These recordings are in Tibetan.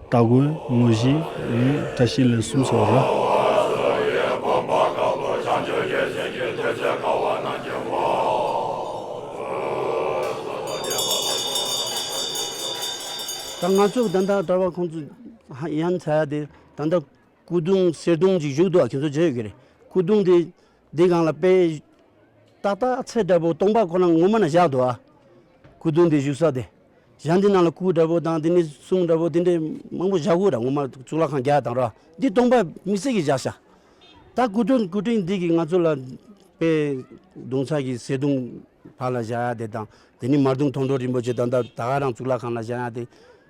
སྟ་གོན་དངོས་གཞི་ནི་བཀྲ་ཤིས་ལན་གསུམ་སོགས་རེད། ད་ང་ཚོ་ད་ལྟ་བཀྲ་བྷ་ཁོང་ཚོ་ཡང་ཚ་ཡ་དེ་ད་ལྟ་སྐུ་གདུང་གསེར་གདུང་གཅིག་བཞུགས་འདུག་ཁྱེད་ཚོ་བརྗོད་ཡོད་ཀྱི་རེད་སྐུ་གདུང་དེ། འདི་གང་ལ་དཔེ། ཏག་ཏག་ཚེ་འདྲ་པོ་སྟོང་པ་ཁོ་ན་ངོ་མ་ན་བཞག་ཏུ་ཨ། ཁུ་རྡུལ་འདི་བཞུགས་ས་དེ། བཞག་འདི་ནང་ལ་སྐུ་འདྲ་པོ་དང་དེ་ནས་གསུང་འདྲ་པོ་དེ་འདྲས་མང་པོ་བཞག་གོ་ར་ངོ་མ་གཙུག་ལག་ཁང་བརྒྱ་དང་ར་འདི་སྟོང་པ་མི་སྲིད་ཀྱི་བཞག་བྱ། ད་སྐུ་རྡུལ་སྐུ་དྲིན་འདི་གི་ང་ཚོ་ལ་དཔེ། གདུང་ཚ་གི་ཟེ་གདུང་བར་ལ་བཞག་ཡ་དེ་དང་དེ་ནས་མར་གདུང་མཐོང་གྲོ་རིན་པོ་ཆེ་དང་ད་ད་ག་རང་གཙུག་ལག་ཁང་ལ་བཞག་ཡ་དེ།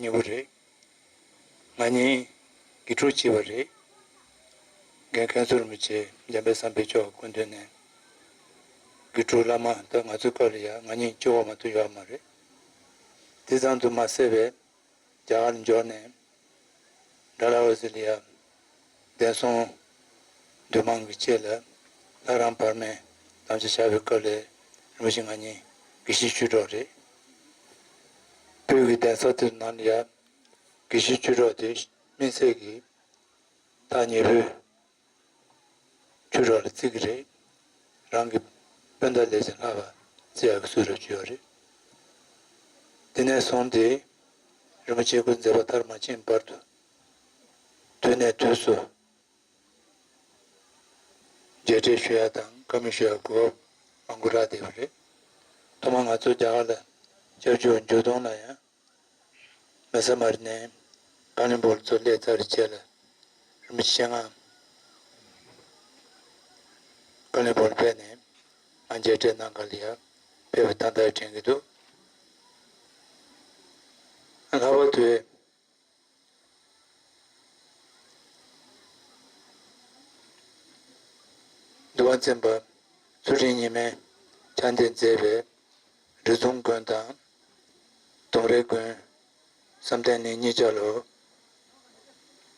ཉེ་བོ་རེད། ང་གཉིས་དགེ་ཕྲུག་གཅིག་པ་རེད། རྒན་མཁན་ཟུར་མི་བྱེད་འཇམ་པའི་བསམ་པའི་སྐྱོ་བ་ཀུན་འདོན་ནས། དགེ་ཕྲུག་བླ་མ་འདི་ང་ཚོའི་སྐབས་ལ་ཡང་ང་གཉིས་སྐྱོ་བ་མ་ཐུག་ཡོད་མ་རེད། འདི་ཙམ་དུ་མ་སད་པས་རྒྱ་གར་འབྱོར་ནས། འདྲ་ལ་འོད་ཟེར་ལི་ཡ། འདས་སོང། འདུས་མང་གི་ལྕེ་ལ་ལྷ་རམས་བར་མའི་དམ་བཅའ་བྱ་བའི་སྐབས་ལས་རིམ་བཞིན་ང་གཉིས་ཀྱི་གཞིས་བཅུ་གྲོགས་རེད། དུས་ཀྱི་འདས་ཚར་དུས་ནམ་ཡང་གི་གཞིས་བཅུ་གྲོགས་དེ་སྨིན་ཚད་ཀྱི་ཐག་ཉེ་བོའི་བཅུ་གྲོགས་ལ་བརྩི་གི་རེད། རང་གི་སྤུན་ཟླ་ལས་ཀྱང་ལྷག་པ་བརྩི་ཡག་གི་སུ་རེད་བཅུ་ཡོད་རེད། འདི་ནས་བཟུང་སྟེ་རིན་པོ་ཆེ་སྐུ་འཛེགས་པ་ཐར་མ་ཕྱིན་བར་དུ་དུས་ནས་དུས་སུ་མཇལ་འཕྲད་ཞུ་ཡག་དང་བཀའ་མོལ་ཞུ་ཡག་དགོས་པ་མང་པོ་རག་བསྡད་པ་རེད། ཐོག་མར་ང་ཚོ་རྒྱ་གར་ལ་བཅར་རྒྱུར་འཇུ་སྟོང་ལ་ཡང་མེ་ཟ་མར་ནས་བཀའ་བློན་པོར་ཚུར་སླེབས་ཚར་རྗེས་ལ་རིན་པོ་ཆེ་སྤྱན་སྔར་བཀའ་བློན་པོར་ཕེབས་ནས་ང་མཇལ་འཕྲད་གནང་ག་ལ་ཡག་ཕེབས་པ་ཐང་ཐང་དྲན་གྱི་འདུག་ལྷག་པར་དུ། བདེ་བ་ཚན་པ་ཚུལ་ཁྲིམས་ཉི་མས་ཕྱག་འདེབས་མཛད་པའི་རི་གདོང་དགོན་དང་གདོང་རའི་དགོན། བསམ་གཏན་ནི་གཉིས་ཆ་ལོ།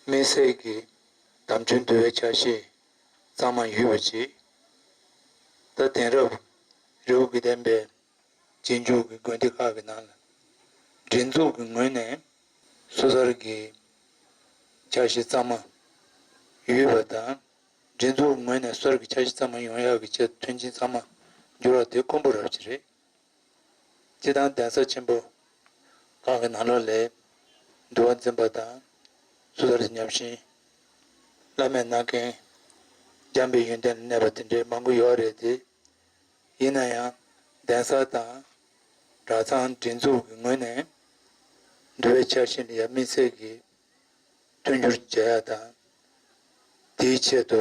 སྨིན་བསྲེག་གི་དམ་ཆོས་འདུལ་བའི་ཆ་ཤས་གཙང་མ་ཡུལ་བ་བྱེད། རྟ་དེང་རབས་རེའུ་དགེ་ལྡན་པའི་རྗེས་འཇུག་གི་དགོན་སྡེ་ཁག་གི་ནང་ལ་སྒྲིག་འཛུགས་ཀྱི་ངོས་ནས་སོ་སར་གྱི་འཆར་གཞི་གཙང་མ་ཡོད་པ་དང། སྒྲིག་འཛུགས་ངོས་ནས་སོར་གྱི་འཆར་གཞི་གཙང་མ་ཡོང་ཡག་གི་ཆེད་དུ་མཐུན་རྐྱེན་ཚང་མ་བསྒྱུར་བ་དེ་དཀོན་པོ་རབ་ཅིག་རེད། སྤྱི་བཏང་གདན་ས་ཆེན་པོ་ཁག་གི་ནང་ལོགས་ལས་འདུལ་བ་འཛིན་པ་དང་སོ་སར་གྱི་ཉམས་ཞན་བླ་མས་གནང་མཁན་རྒྱམ་པའི་ཡོན་ཏན་ལ་གནས་པ་དེ་འདྲའི་མང་པོ་ཡོད་རེད་དེ། ཡིན་ན་ཡང་གདན་ས་དང་གྲྭ་ཚང་སྒྲིག་འཛུགས་ཀྱི་ངོས་ནས་འདུལ་བའི་འཆར་གཞི་འདི་ཡབ་མེས་ཚལ་གྱིས་མཐུན་འགྱུར་བྱེད་ཡག་དང། དེའི་ཆེད་དུ་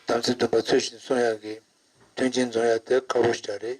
དམ་ཚིག་འདུན་པ་ཚུལ་བཞིན་སྲུང་ཡག་གི་མཐུན་རྐྱེན་འཛོམས་ཡག་དེ་ཁག་པོ་ཞིག་རེད།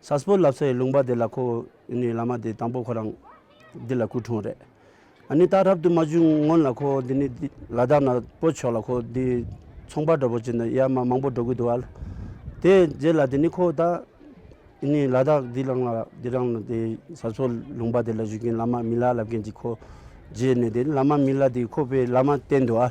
ས་སྤོ་ལབ་ས་ཡི་ལུང་པ་དེ་ལ་ཁོ་ཨེ་ནུའི་བླ་མ་དེ་དང་པོ་ཁོ་རང་འདི་ལ་སྐུ་འཁྲུངས་རེད། ཨ་ནི་ཏག་རབ་ཏུ་མ་བྱུང་སྔོན་ལ་ཁོ་འདི་ནི་ལ་དྭགས་ན་སྤོ་ཆོག་ལ་ཁོ་འདི་ཚོང་པ་འདྲ་པོ་བྱེད་འདོད་ཡ་མ་མང་པོ་འགྲོ་གི་འདུག་ཨ་ལ་དེ་རྗེས་ལ་དེ་ནི་ཁོ་ཏག་ཨེ་ནུའི་ལ་དྭགས་འདི་རང་ལ་འདི་རང་ལ་དེ་ས་སྤོ་ལུང་པ་དེ་ལ་བཞུགས་མཁན་བླ་མ་མི་ལ་ལབ་མཁན་གྱི་ཁོ་རྗེས་ནས་དེ་བླ་མ་མི་ལ་དེ་ཁོ་པའི་བླ་མ་བསྟེན་འདུག་ཨ།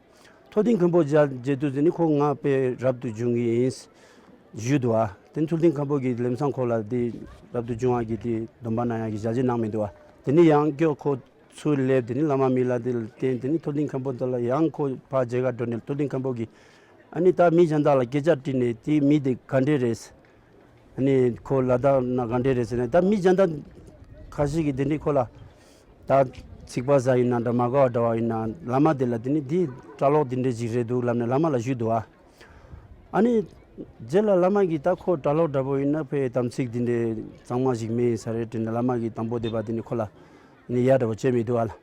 མཐོ་ལྡིང་མཁན་པོ་རྗེ་བདུད་རྩི་ནི་ཁོང་ང་དཔེ་རབ་ཏུ་འབྱུང་གི་ཡིན། བཞུད་དུ་བ། དེ་མཐོ་ལྡིང་མཁན་པོ་གྱི་ལེམས་སང་ཁོ་ལ་དེ་རབ་ཏུ་འབྱུང་བ་གྱི་དེ་སྡོམ་པ་ན་ཡང་གྱི་བྱ་བྱེད་གནང་མི་འདུག་བ། དེ་ནི་ཡང་སྐྱོ་ཁོ་ཚུར་སླེབས་དེ་ནི་བླ་མ་མི་ལ་དེ་བསྟན་དེ་ནི་མཐོ་ལྡིང་མཁན་པོ་དེ་ལ་ཡང་ཁོ་ཕ་རྗེ་གར་འགྲོ་ནས་མཐོ་ལྡིང་མཁན་པོ་གྱིས། ཨ་ནི་ད་མི་གཞན་དག་ལ་སྐད་ཆ་དྲིས་ནས་དེ་མི་དེ་ག་འདྲས་རེད། ནས་ཁོ་ལ་དྭགས་ན་ག་འདྲས་རེད་ཟེར་ནས་ད་མི་སྦྱང་དྭགས་ཁ་ཤས་ཀྱིས་དེ་འདྲས་ཁོ་ལ་ད་ཚིག་པ་ཟ་ཡིན་ན་འདྲ་མ་དགའ་བ་འདྲ་བ་ཡིན་ན་བླ་མ་དེ་ལ་དེ་ནི་དེའི་སྐྲ་ལོག་དེ་འདྲས་ཞིག་རེད་འདུག་ལབ་ནས་བླ་མ་ལ་ཞུས་འདུག་ཨ། ཨ་ནི་རྗེས་ལ་བླ་མ་གིས་ད་ཁོ་སྐྲ་ལོག་འདྲ་པོ་ཡིན་ན་ཕའི་དམ་ཚིག་དེ་འདྲས་གཙང་མ་ཞིག་མེད་ས་རེད་དྲིས་ནས་བླ་མ་གིས་དང་པོ་དེ་བ་དེ་ནི་ཁོ་ལ་ནི་ཡག་འདྲ་བོ་བྱས་མི་འདུག་ཨ།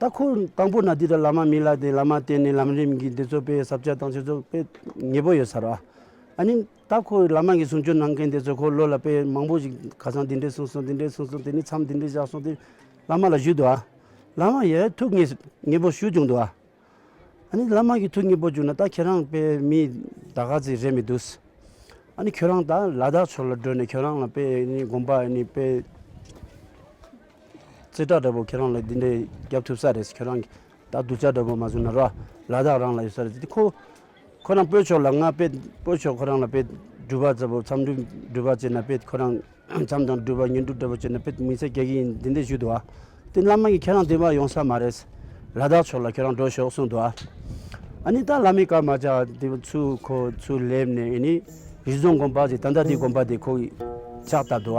ལྟ་ཁུལ་དང་པོ་ན་དུས་ལྟར་བླ་མ་མི་ལ་དེ་བླ་མ་བསྟེན་ནས་ལམ་རིམ་གྱི་འདི་ཚོ་སྤེལ་ཟབ་བྱ་དང་ཆོས་ཚོགས་སྤེལ་ངེས་པོ་ཡོད་ས་ར། ཨ་ནི་ལྟ་ཁུལ་བླ་མ་གི་གསུང་ཆོས་གནང་མཁན་དེ་ཚོས་འཁོར་ལོ་ལ་དཔེ་མང་པོ་ཞིག་ཁ་སང་འདི་འདྲས་གསུངས་སོང་འདི་འདྲས་གསུངས་སོང་དེ་ནས་མཚམས་འདི་འདྲས་བཞག་སོང་དེ་བླ་མ་ལ་ཞུས་འདུག་ཨ། བླ་མ་ཡས་ཐུགས་ངེས་ངེས་པོ་ཞུས་བྱུང་འདུག་ཨ། ཨ་ནི་བླ་མ་གི་ཐུགས་ངེས་པོ་བྱུང་ན་ད་ཁྱེད་རང་དཔེ་མི་ད་ག་ཚི་རེད་མི་འདུག་ས། ཨ་ནི་ཁྱོད་རང་ད་ལ་དྭགས་ཕྱོགས་ལ་བགྲོད་ནས་ཁྱོད་རང་ལ་དཔེ་ནི་དགོངས་པ་ཨ་ནི་དཔེ། རྩེ་གྲ་འདྲ་པོ་ཁྱེད་རང་ལ་འདི་འདྲས་བརྒྱབ་ཐུབ་ས་རེད་ཁྱོད་རང་གིས་ད་རྡུལ་ཆ་འདྲ་པོ་མ་བཟོས་ན་ར་ལ་དག་རང་ལ་ཡོད་ས་རེད་དེ་ཁོ་ཁོ་རང་སྤོས་ཆོག་ལ་ང་དཔེ་སྤོས་ཆོག་ཁོ་རང་ལ་དཔེ་འགྲུལ་པ་ཙལ་པོ་མཚམས་འགྲུལ་འགྲུལ་པ་བྱེད་ན་དཔེ་ཁོ་རང་མཚམས་དང་འགྲུལ་པ་ཉོན་འགྲུལ་འདྲ་པོ་བྱེད་ན་དཔེ་མི་ཚེ་སྐྱེལ་གྱི་ཡིན་འདི་འདྲས་ཞུས་འདུག་དེ་བླ་མ་གིས་ཁྱེད་རང་འདི་མ་ཡོང་ས་མ་རེད་ལ་དག་ཆོག་ལ་ཁྱོད་རང་འགྲོ་ཞོག་གསུངས་འདུག་ཨ་ནི་ད་བླ་མའི་བཀའ་མ་བཅག་དེ་བས་ཚུལ་ཁོ་ཚུལ་སླེབས་ནས་ཨེ་ནི་རི་རྫོང་དགོན་པ་ཞིག་ད་ལྟ་དེ་དགོན་པ་དེ་ཁོ་གིས་ཕྱག་བཏབ་འདུག་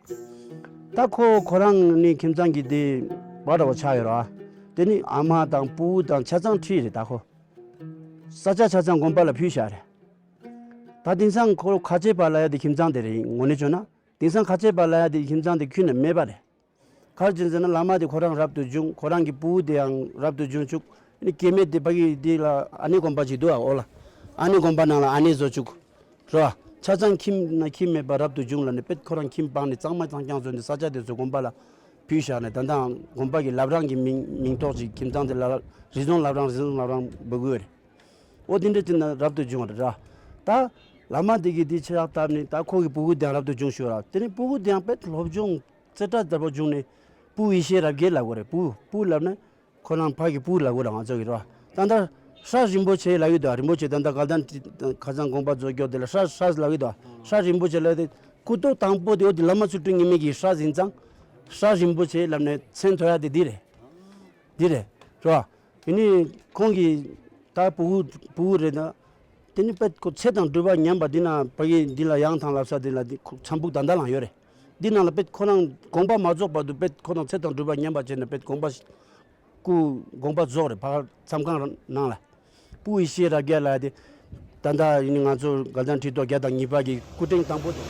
ད་ཁོ་ཁོ་རང་ནི་ཁྱིམ་ཚང་གི་དེ་བ་འདྲ་བོ་ཆགས་ཡོད་ར། དེ་ནི་ཨ་མ་དང་སྤུ་བོ་དང་ཆ་ཚང་ཁྲི་རེད་ད་ཁོ། ས་ཆ་ཆ་ཚང་དགོན་པ་ལ་ཕུལ་བཞག་རེད། ད་དེང་སང་ཁོ་རོ་ཁ་ཆེ་བ་ལ་ཡ་དེ་ཁྱིམ་ཚང་དེ་རེད་ངོ་ནས་བྱོན་ན་དེང་སང་ཁ་ཆེ་བ་ལ་ཡ་དེ་ཁྱིམ་ཚང་དེ་ཁུལ་ན་མེད་པ་རེད། གར་གྱིན་ཟེར་ན་ལ་མ་དེ་ཁོ་རང་རབ་ཏུ་བྱུང་ཁོ་རང་གི་སྤུ་བོ་དེའང་རབ་ཏུ་བྱུང་བཅུག་ཨ་ནི་སྐྱེ་མེད་དེ་བ་གི་དེ་ལ་ཨ་ནེ་དགོན་པ་ཅིག་འདུག་ཨ་འོ་ལ་ཨ་ནེ་དགོན་པ་ནང་ལ་ཨ་ནེ་བཟོ་བཅུག་རོ། ཆ་ཚང་ཁྱིམ་ན་ཁྱིམ་མེད་པར་རབ་ཏུ་བྱུང་ལ་ནི་དཔེར་ཁོ་རང་ཁྱིམ་སྤངས་ནས་གཙང་མ་ཚང་རྐྱང་བཟོས་ནས་ས་ཆ་དེ་ཚོའི་དགོན་པ་ལ་བུད་བཞག་ནས་ད་ལྟའང་དགོན་པ་གི་ལབ་རང་གི་མིང་མིང་ཐོགས་ཅིག་ཁྱིམ་ཚང་དེ་ལ་རི་ཟོང་ལབ་རང་རི་ཟོང་ལབ་རང་འབོད་དགོས་རེད། ཨོ་དེ་འདྲ་ཚིག་ན་རབ་ཏུ་བྱུང་ར། ད། ལ་མ་དེ་གིས་དེ་ཕྱིར་རག་བཏབ་ནས་ད་ཁོ་གི་སྤུ་གུ་དེའང་རབ་ཏུ་བྱུང་ཞུ་ར་དེ་ནས་སྤུ་གུ་དེའང་དཔེར་སློབ་སྦྱོང་རྩེ་གྲ་དལ་བོ་བྱུང་ནས་སྤུ་ཡེ་ཤེས་རབ་རྒྱས་ལབ་དགོས་རེད་སྤུ་སྤུ་ལབ་ན་ཁོ་རང་ཕ་གི་སྤུའི་ལག་འོད་ལའང་རྩོལ་གྱི་རོ། ཏན་ཏར། ཧྲཱི། རིན་པོ་ཆེའི་ལག་འོད་དོ། རིན་པོ་ཆེ་ཏན་ཏར་ག་དང་ཏྲི། ཁ་ཚང་དགོངས་པ་རྫོགས་སྐྱོབ་དེ་ལ་ཧྲཱི། ཧྲཱི། ལག་འོད་དོ། ཧྲཱི། རིན་པོ་ཆེ་ལག་འོད་དེ། སྐུ་སྟོད་དང་པོ་དེ་འོད་དེ་བླ་མ་ཚུར་སྤྲུལ་ཉི་མས་ཀྱིས་ཧྲཱི། ཟིན་ཙང། ཧྲཱི། རིན་པོ་ཆེའི་ལམ་ནས་མཚན་ཐོ་ཡག་དེ་འདི་རེད། འདི་རེད། དྲི་བ། དེ་ནི་ཁོང་གི། ད་བུ། བུ་རེད་ད། དེ་ནི་དཔེ། ཚེ་དང་སྤྲུལ་པ་ཉམས་པ་འདི་ན་བ་གིས་འདི་ལ་ཡང་ཐང་ལབ་ས་དེ་ལ་འདི་ཁུག་ཚངས་བུག་ད་ད་ལང་ཡོད་རེད། འདི་རྣམས་ལ་དཔེ་ཁོ་ནའང་དགོངས་པ་མ་རྫོགས་པར་དུ་དཔེ་ཁོ་ནའང་ཚེ་དང་སྒྲུབ་པ་ཉམས་པར་བྱས་ནས་དཔེ་དགོངས་པ། སྐུ་དགོངས་པ་རྫོགས་རེ་བར་མཚམས་ཁང་ནང་ལ། སྤུ་ཡི་ཤེས་རབ་རྒྱས་ལ་ཏེ། ད་ལྟ་ཡིན་ང་ཚོ་དགའ་ལྡན་ཁྲི་ཐོག་བརྒྱ་དང་གཉིས་པ་གྱི་སྐུ་ཕྲེང་དང་པོ་དང།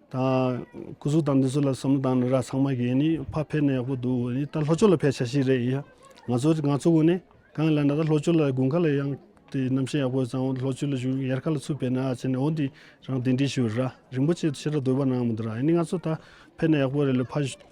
དང། སྐུ་གཟུགས་དང་འདི་ཚོ་ལ་བསམ་བློ་བཏང་ནས་རག་ཚང་མ་གིས་ནི་ཕ་ཕེབས་ན་ཡག་པོ་འདུག་འོ་ནི་ད་ལྷོ་ཕྱོགས་ལ་ཕེབས་བྱ་ཞིག་རེད་ཡིན། ང་ཚོ་ང་ཚོ་དགོན་ནི་གང་ཡིན་ལ་ན་ད་ལྷོ་ཕྱོགས་ལ་དགུན་ཁ་ལ་ཡང་དེ་རྣམ་ཤེས་ཡག་པོ་ཙང་འོ་ལྷོ་ཕྱོགས་ལ་བཞུགས་ཡར་ཁ་ལ་ཚུར་ཕེབས་ན་ཨ་ཅེ་ནས་འོ་འདི་རང་དེ་འདྲི་ཞུ་ར་རིན་པོ་ཆེ་ཕྱི་ར་སྡོད་པ་ནང་མི་འདུག་ར་ཡིན་ནི་ང་ཚོ་ད་ཕེབས་ན་ཡག་པོ་རེད་ལ་ཕ་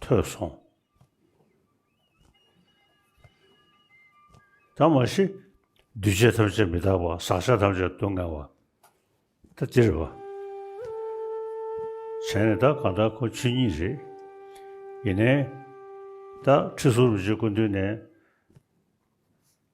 ཐོས་སོང། ད་མ་ཤི། འདུས་བྱས་ཐམས་ཅད་མི་རྟག་པ་ཟག་བྱ་ཐམས་ཅད་སྡུག་བསྔལ་བ། ད་འདིར་བ། བྱས་ནས་ད་གང་ལྟར་ཁོ་ཆོས་ཉིད་རེད། ཡིན་ནའི། ད་ཁྲི་ཟུར་རུ་བྱེད་ཀུན་འདུས་ནས།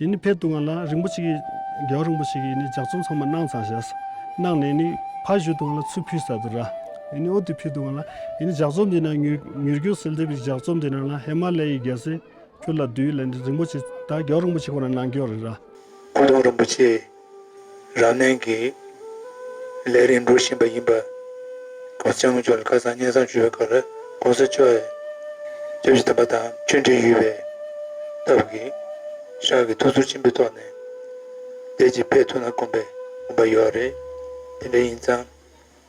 ཡིན་ནི་ཕེབས་འདུག་ང་ལ་རིན་པོ་ཆེ་གི་རྒྱལ་བ་རིན་པོ་ཆེ་གི་ཡིན་ནི་ལྗགས་རྩོམ་ཚང་མ་གནང་ཚང་བྱས། གནང་ནས་ཡིན་ནི་ཕ་བཞུད་འདུག་ང་ལ་ཚུར་ཕུལ་ས་དུ་ར། ཡིན་ནི་ཨོ་དུས་ཕུལ་འདུག་ང་ལ། ཡིན་ནི་ལྗགས་རྩོམ་འདི་ནང་མྱུར་མྱུར་སྐྱོད་སེལ་འདེབས་ཀྱི་ལྗགས་རྩོམ་འདི་ནང་ལ་ཧེ་མ་ལའི་ཡི་རྒྱལ་སྲས། ཁྱོད་ལ་དུས་ལ་ནི་རིན་པོ་ཆེ་ད་རྒྱལ་བ་རིན་པོ་ཆེ་ཁོ་ན་གནང་སྐྱོང་རེ་ར། ཁོ་རང་རིན་པོ་ཆེ་རང་ནན་གྱིས་ལས་རིགས་འགྲོ་བཞིན་པ་ཡིན་པ། ཁོང་ཚེ་སྔོན་ཆོས་ལ་ཁ་སང་སྙན་བཟང་བརྗོད་པའི་སྐབས་ལ ྋགོང་ས་མཆོག་གིས་རྒྱ་བཞི་དམ་པ་དང་མཆོད་འབྲེལ་ཡོད་པའི་སྟབས་ཀྱིས ྋཞག་གི་ཐུགས་ཚོར་ཆེན་པོའི་ཐོག་ནས་བདེ་སྐྱིད་འཕེལ་ཐུབ་ན་དགོངས་པས་འོངས་པ་ཡོད་རེད། དེ་འདྲ་ཡིན་ཙང།